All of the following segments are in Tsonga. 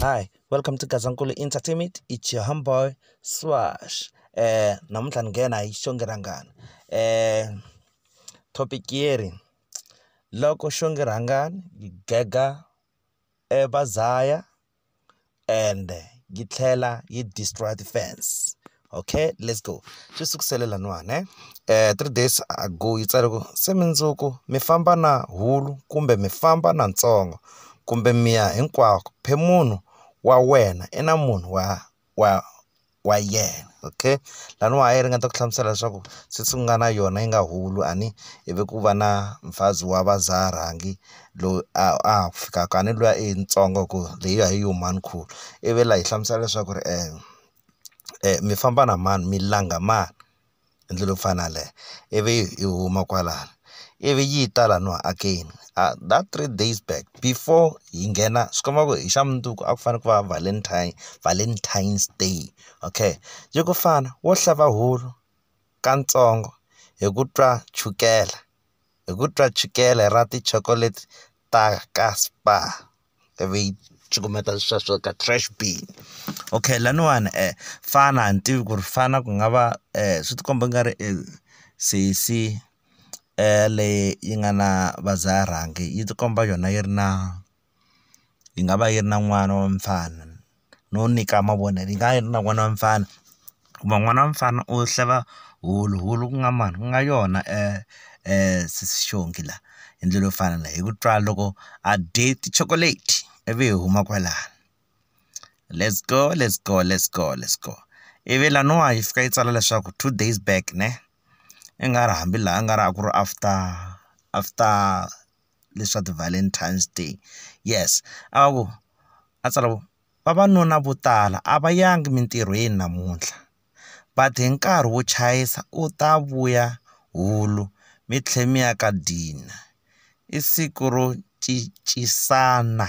Hi, welcome to Gazankulu Entertainment. It's your homeboy Swash. Eh, namuntlha ni nghena hi xonge rhangani. Eh, topic yeri loko xonge rhangani yi gega e vazaya and yi tlhela yi destroy ti-fans okay let's go swi sukusele laniwani ne eh, um three days ago yi tsale ku se mindzuku mi famba na hulu kumbe mi famba na ntsongo kumbe miya hinkwako phe munhu wa wena i na munhu wa wa wa yena okay laniwa a yi ringeta ku hlamusela leswaku since ku nga na yona yi nga hulu a ni ivi ku va na mfazi wa va za rhangi loyi a ha ku fikaka a ni luya i yitsongo hi ku leyi a hi yi huma ni khulu ivi la hi hlamusela leswaku ri mi famba na mani mi langa mani. hi ndlela yo fana na yaleyo ivi hi huma kwalano ivi yi ta laha hakeni that three days back before hi nghena swi komba ku hi xa mundzuku a ku fanele ku va valentine valentine's day okay yi ku fana wo xava wulu ka ntsongo hi ku twa chukela hi ku twa chukele ra ti-chocolate ta ka Spar. ivi yi cukumeta sweswo ka trash bin okay laniwani um fana a ni tivi ku ri fana ku nga va um swi ti komba i nga ri i sesi leyi yi nga na va dzaha rhangi yi ti komba yona yi ri na yi nga va yi ri na n'wana wa mfana. no nyika mavonelo yi nga ha na n'wana wa mfana hikuva n'wana wa mfana u xava hulu hulu ku nga mani ku nga yona sesi xihongi la hi ndlela yo fana na hi ku twa loko a dye tichokoleti ivi hi huma kwalano lets go lets go lets go lets go ivi laniwa yi fika yi tsala leswaku two days back ne i nga ri hambi laha a nga ri a ku ri after after. leswi swa ti-valentine's day yes a vo a tsala ku vavanuna vo tala a va yangi emintirhweni namuntlha va te hi nkarhi wo chayisa u ta vuya hulu mi tlhela mi ya ka dina i siku ro cincisana.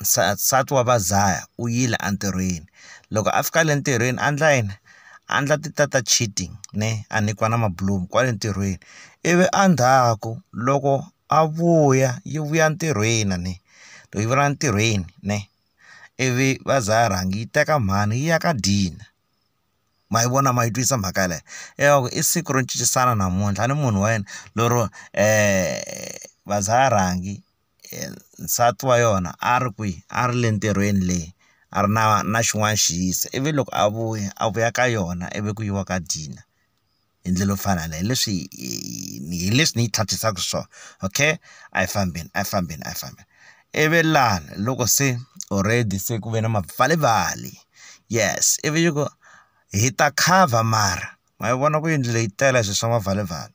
nsati wa va dlaya u yile entirhweni loko a fika le ntirhweni a endla yini a endla ti ta ta cheating ne a nyikiwa na mabulomu kwale ntirhweni ivi a ndzhaku loko a vuya yi vuya ntirhweni a ne yi vuyela ntirhweni ne ivi va za va rhanga yi teka mhani yi ya ka dina ma yi vona ma yi twisisa mhaka yeleyo ingaku i siku ro cincisana namuntlha ni munhu wa yena lero va za va rhangi. nsati wa yona a ri kwihi a ri le ntirhweni le a ri na na xin'wana xi yisa ivi loko a vuya a vuya ka yona ivi ku yiwa ka dina hi ndlela yo fana na hi leswi hi leswi ni yi tlhatlhisaka swona okay a hi fambeni a hi fambeni a hi fambeni ivi lani loko se already se ku ve na mapfalimpfali yes ivi yi ku hi ta cover mara ma yi vona ku yindlu leyi tele swilo swa mapfalimpfali .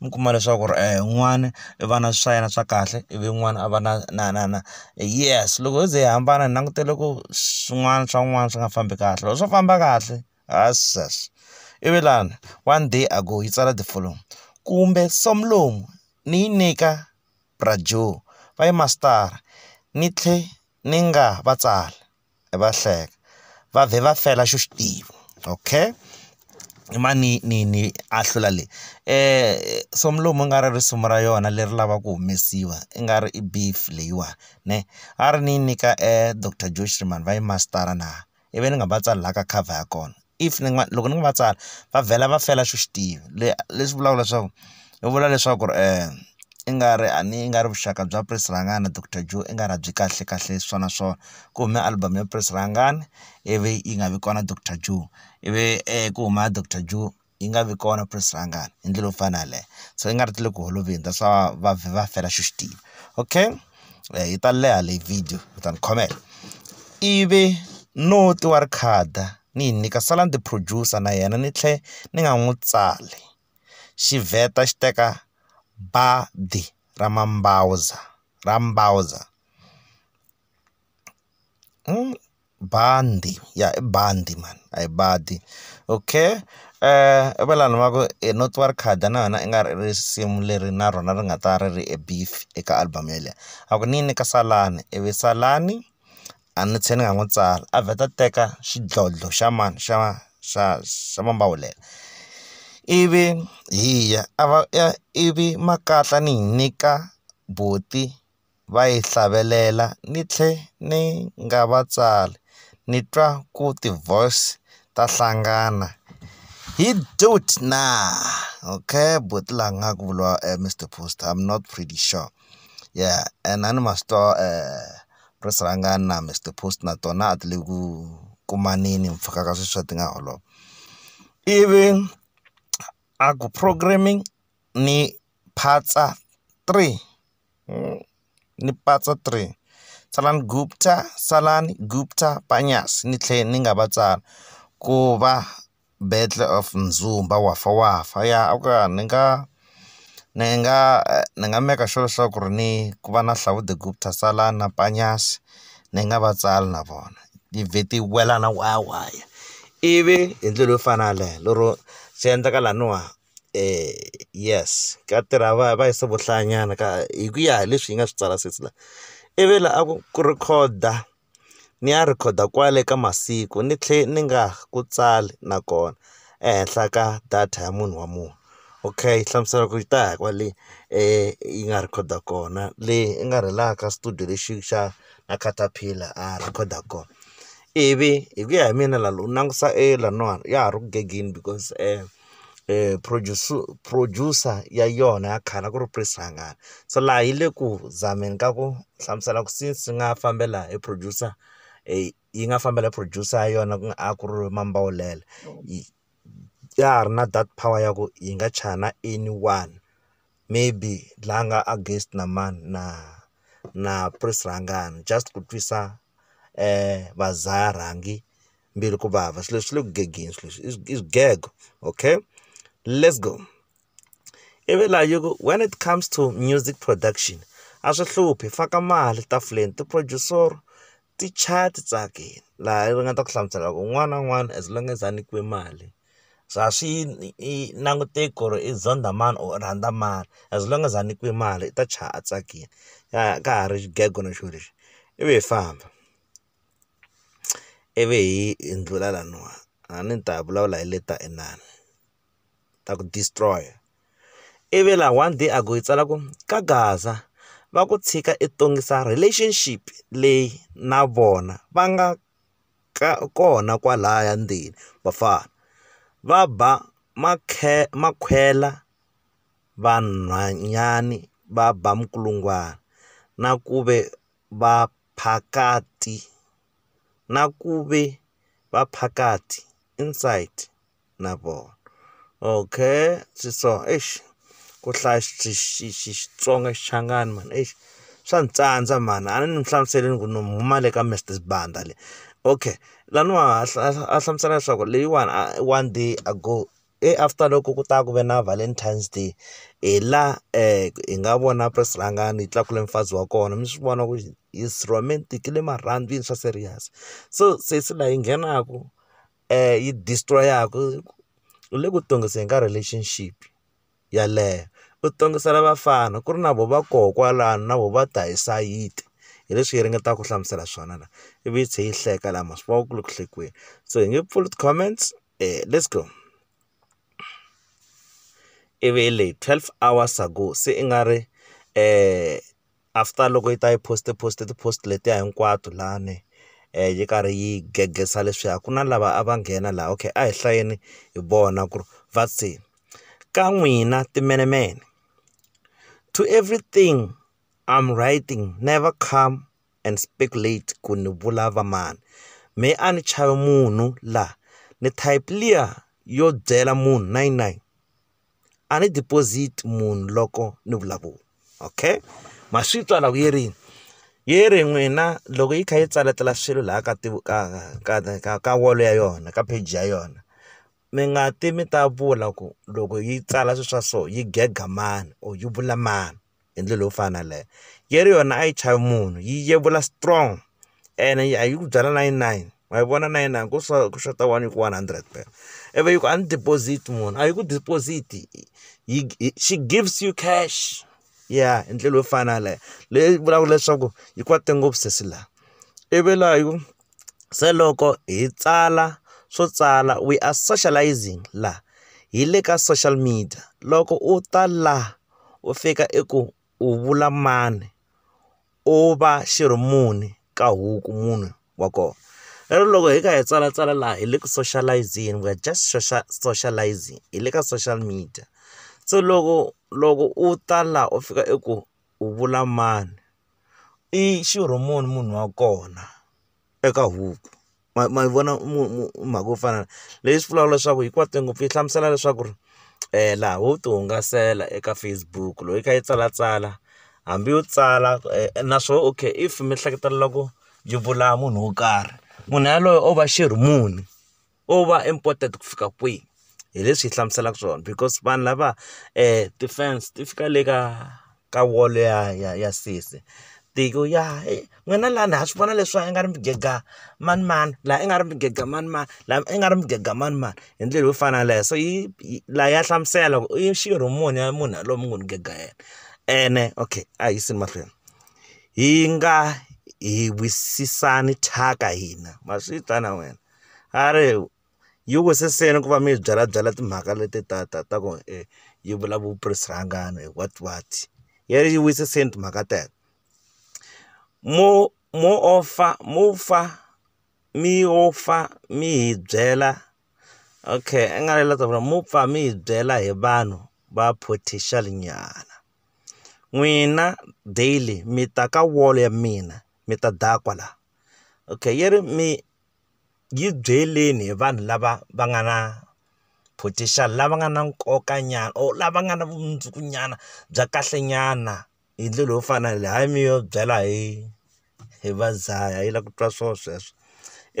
mi kuma leswaku ri un'wana i va na swa yena swa kahle ivi un'wana a va na na na na yes loko yo ze hi hambana hi langutele ku swin'wana swa un'wana swi nga fambi kahle loko swo famba kahle ivi lani one day a go yi tsala the following kumbe swa mulungu ni yi nyika bra Joe va yi mastara ni tlhe ni nga va tsala. va hleka va vhe va fela xo xi tiva okay i ma ni ni ni ahlula leyi soma lomu nga ri risuma ra yona leri lavaka ku humesiwa i nga ri i beef leyiwani ne a ri ni yi nyika doctor Joe Schriman va yi mastara na ivi ni nga va tsalaka cover ya kona. if ni nga loko ni nga va tsala va vhela va fela xo xi tiva le leswi vulaka leswaku va vula leswaku ri i nga ri a ni i nga ri vuxaka bya prince rhangani na doctor joe i nga ri a byi kahle kahle swa na swo ku hume album ya prince rhangani ivi yi nga vi kona doctor joe ivi ku huma doctor joe yi nga vi kona prince rhangani hi ndlela yo fana na yaleyo so i nga ri ti le ku holoveli that's why va vhe va fela xo xi tiva okay. eh, yi ta leha leyi video u ta ni khomela ivi no ti wa ri khada ni yi nyika sala ni ti producer na yena ni tlhe ni nga n'wi tsali xi vheta xi teka badi ra mambawuza ra mbawuza hmm, bandi ya i bandi mhani a hi badi okay i va lani va ku i no tiva ri khadi na yona i nga ri risimu leri na rona ri nga ta ri ri beef eka album yeleyo a ku ni yi nyika salani ivi salani a ni tshiki ni nga n'wi tsala a vheta a teka xidlodlo xa mani xa xa xa mambawulela ivi hi ya a va ivi makatla ni yi nyika buti. va yi hlavelela ni tlhe ni nga va tsali ni twa ku ti-voice ta hlangana hi dude na okay buti la nga ku vuriwa Mister Post I'm not pretty sure ya and a ni ma swi twa ri rhangani na Mister Post na tona a ti le ku kumaneni mpfhuka ka sweswiya ti nga holova ivi a ku programming ni phatsa three. ni patsa three Tsalani Gupta, Tsalani Gupta, Panyazi ni tlhela ni nga va tsali ku va battle of Muzumba Wafa Wafa ya a ku ya ni nga ni nga ni nga maker sure leswaku ri ni ku va na Hlawuhlawu the Gupta Tsalani na Panyazi ni nga va tsali na vona ni vhe ti wela na waya waya ivi hi ndlela yo fana na yaleyo lero swi endleka laniwa. yes ka tirha va va yisa vo hlayanyana ka hi ku ya hi leswi yi nga swi tsala sesi la i ve la a ku ku rhekhoda ni ya rhekhoda kwale ka masiku ni tlhe ni nga ku tsali nakona ehenhla ka data ya munhu wa munhu okay hlamusela ku yi ta hi kwale yi nga rhekhoda kona leyi i nga rhela ka studio lexi xa na caterpillar a rhekhoda kona ivi hi ku ya hi mina la u langutisa e laniwani ya ha ri ku gengeni because . eh produce producer ya yona ya khale a ku ri Prince Rhangani so laha yi le ku zameni ka ku hlamusela ku since swi nga fambela hi producer yi nga fambela hi producer ya yona ku nga a ku ri Mambawulele yi ya ha ri na that power ya ku yi nga chaya na anyone maybe la nga against na mani na na Prince Rhangani just ku twisa va za rhangi. mbilu ku vava swilo leswi swi le ku gegeni swilo leswi i swi- i swigego okay let's go ivi laha yi ku when it comes to music production a swi hluphi faka mali tafuleni ti-producer ti chaya ti tsakile laha ri nga ta ku hlamusela ku un'wana na un'wana as long as a nyikiwe mali so a swi yi i languteki ku ri i zonda mani or u rhandza mani as long as a nyikiwe mali i ta chaya a tsakile ka ka ha ri xigego na xona lexi ivi hi famba. ivi hi hi ndlula laniwa a ni ta vulavula hi leta inani ta ku destroy ivi la one day a ku hi tsala ku ka gaza va ku tshika i tongisa relationship leyi na vona va nga ka kona kwalaya ndzeni vafana va ba makhwela vanhwanyani va ba minkulungwana na ku ve. Vaphakati, na ku ve Vaphakati, inside, na vona. Okay, swi so eish, ku hlaya Xitsonga Xichangani mhani eish, swa ni tsandza mhani, a ni mi hlamusele ni ku ni huma le ka Mister Sibanda le. Okay, laniwa a hlamusela leswaku leyiwani one day ago. e after loko ku ta ku ve na valentines day hi la hi nga vona press rhangani yi tlakula mufazi wa kona mi swi vona ku is romantic i le marhandzwini swa serious so sesi la yi nghenaku yi destroy-aku u le ku tongiseni ka relationship yeleyo u tongisela vafana ku ri na vo va koho kwalano na vo va ta hi sayiti hi leswi hi ringetaka ku hlamusela swona la ivi yi tlhe yi hleka la ma swi vona ku le ku hlekeni se hi nge pfuli ti-comments. Uh, let's go. E be e le 12 hours ago se i nga ri uh, after loko yi ta yi post post ti-post letiya hinkwato lani um eh, yi karhi yi gegesa leswiya ku na lava a va nghena laha okay a hi hlayeni hi vona ku ri va se ka n'wina timenemene to everything i'm writing never come and speculate ku ni vula va mani me a ni chavi munhu la ni type liya yo byela munhu nine nine a ni deposit munhu loko ni vulavula okay ma swi twa la ku yi ri yi ri n'wina loko yi kha yi tsaletela swilo laha ka ti ka ka ka ka wall ya yona ka page ya yona mi nga ti mi ta vula ku loko yi tsala swilo swa so yi gega mani or yi vula mani. hi ndlela yo fana na yaleyo yeri yona a yi chavi munhu yi yevula strong ene a yi ku byela na yi nine wa yi vona na yi nine ku swa ku xota one yi ku one hundred phela ivi yi ku a ni deposit munhu a yi ku deposit yi she gives you cash ya hi ndlela yo fana na yaleyo leyi vulaka leswaku yi kwate ngopfu sesi laha ivi laha yi ku se loko hi tsala swo tsala we are socialising laha hi le ka social media loko u ta laha. u fika i ku u vula mani u va xi ri muni ka huku munhu wa kona lero loko hi kha hi tsala tsala laha hi le ku soshalayizingi we are just soshalayizingi hi le ka social media se loko loko u ta laha u fika i ku u vula mani i xirho muni munhu wa kona eka huku. ma ma yi vona mhaka yo fana na leyi swi vulaka leswaku hinkwato ngopfu yi hlamusela leswaku ri laha wo ti hungasela eka Facebook loko yi kha yi tsalatsala hambi yo tsala na swo okay if mi hleketa loko yi vula munhu wo karhi munhu yaloye o va xirhi muni o va important ku fika kwihi. hi leswi yi hlamuselaka swona because vanhu lava ti-fence ti fika le ka ka wall ya ya ya sesi ti ku ya he n'wina lani ha swi vona leswa i nga ri mi gega manimani laha i nga ri mi gega manimani laha i nga ri mi gega manimani hi ndlela yo fana na yaleyo so yi laha ya hlamusela ku i xirho muni ya munhu yaloye mi ngo ni gega yena ene okay a hi yiseni mahlweni hi nga hi wisisani thyaka hina ma swi ta na wena a ri. yi wisisile ku va mi hi byalabyala timhaka leti ta ta ta ku yi vulavula vuprisi rhangani what what ya yi wisisile timhaka teto mo mo off-a mo fa mi yo fa mi hi byela okay i nga ri la ta vula mo pfa mi hi byela hi vanhu va potential nyana n'wina daily mi ta ka wall ya mina mi ta dakwa la okay yi ri mi. yi byeleni hi vanhu lava va nga na potential lava nga na nkoka nyana or lava nga na vumundzuku nyana bya kahle nyana hi ndlela yo fana na leyi hayi mi yo byela hi hi va dlaya yi lava ku twa swona sweswo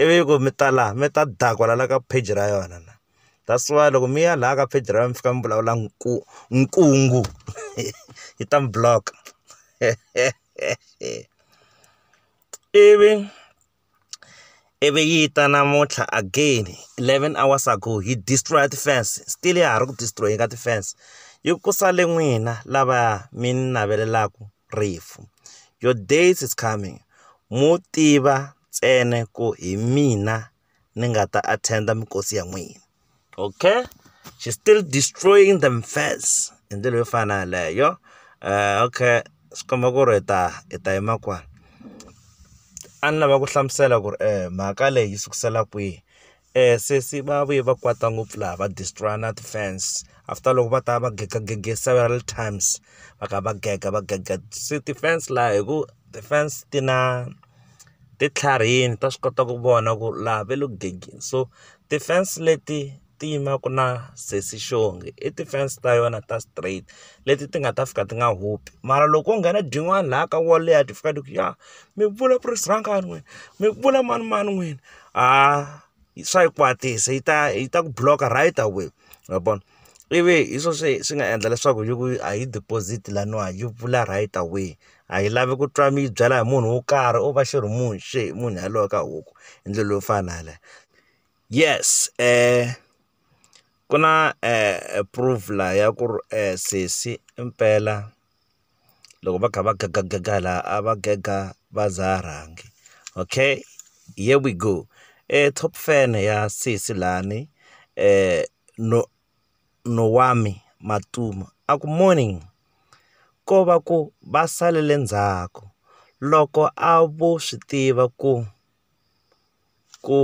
ivi ku mi ta laha mi ta dakwa la ka page ra yona la that's why loko mi ya laha ka page ra yena mi fika mi vulavula ku nkungu yi ta mi block ivi. ivi yi ta namuntlha again eleven hours ago yi destroy ti-fence still ya ha ri ku destroy-eni ka ti-fence yi ku sale n'wina lava mi ni navelelaku rifu your days is coming mo tiva ntsena ku hi mina ni nga ta attend-a minkosi ya n'wina. okay she's still destroying them first hi ndlela yo fana yaleyo uh, okay swi komba ku ri ta i ta yima kwani a ni lava ku hlamusela ku ri um eh, mhaka leyi yi sukusela kwihi um sesi va vuye va kwata ngopfu laha va destroya na ti-fans after loko va ta va gegagege several times va ka va gega va gega se ti-fans laha hi ku ti-fence ti na ti tlharihini ta swi kota ku vona ku laha va le ku gangeni so ti-fence leti ti yimaka na sesi xongi i ti-fence ta yona ta straight leti ti nga ta fika ti nga hupi mara loko ko nghena byin'wana laha ka wall liya ti fika ti ku ya mi vula ku ri sirhankani n'wina mi vula manimani n'wina ha swa yi kwatisa yi ta yi ta ku block-a right away ma vona. ivi hi swo swi swi nga endla leswaku yi ku a yi deposit laniwa yi pfula right away a yi lavi ku twa mi yi byela hi munhu wo karhi u va xi ri munhu xi ri munhu yaloye ka huku hi ndlela leyo fana na yaleyo yes ku na proof laha ya ku ri sesi impela. loko va kha va gagagaga laha a va gaga va za rhangi okay here we go top fan ya sesi lani Nowami Matimba a ku morning ko va ku va salele ndzhaku loko a vo swi tiva ku ku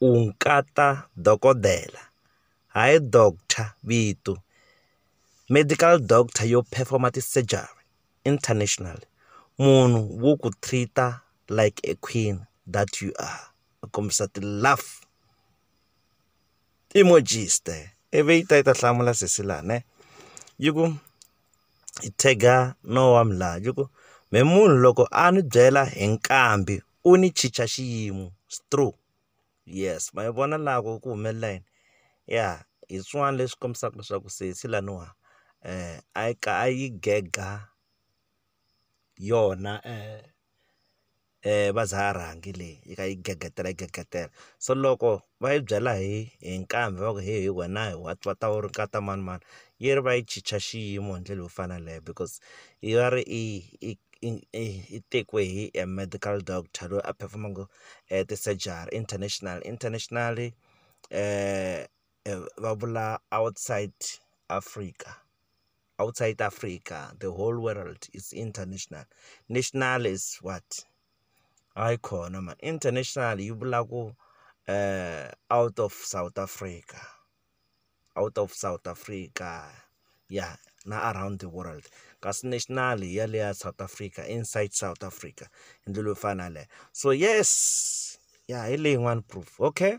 u nkata dokodela hayi doctor vito. Medical doctor yo perform-a ti-surgery international, munhu wo ku treat-a like a queen that you are, ku kombisa ti-love. emojiste ivi yi ta yi ta hlamula sesi la ne yi ku yi tag-a no wa la yi ku me munhu loko a ni byela hi nkambi u ni chicha xiyimo it's true yes ma yi vona la ku ku humelela yini ya hi swin'wana leswi kombisaka leswaku sesi laniwa a yi a yi gega. yona va za rhangi leyi yi kha yi gegetela yi gegetela so loko va yi byela hi hi nkambi va ku he wena hi wa wa ta wu ri nkata manimani yi ri va yi chicha xiyimo hi ndlela yo fana na yaleyo because yi va ri i i i i i tekiwe hi a medical doctor loyi a phefomaka ti-surgery international internationally va vula outside Africa. outside Africa the whole world is international national is what hayi khona ma international yi vula ku uh, out of south africa out of south africa ya yeah, na around the world kasi national ya le ya south africa inside south africa hi ndlela yo fana leyo so yes ya yeah, hi leyi yin'wana proof okay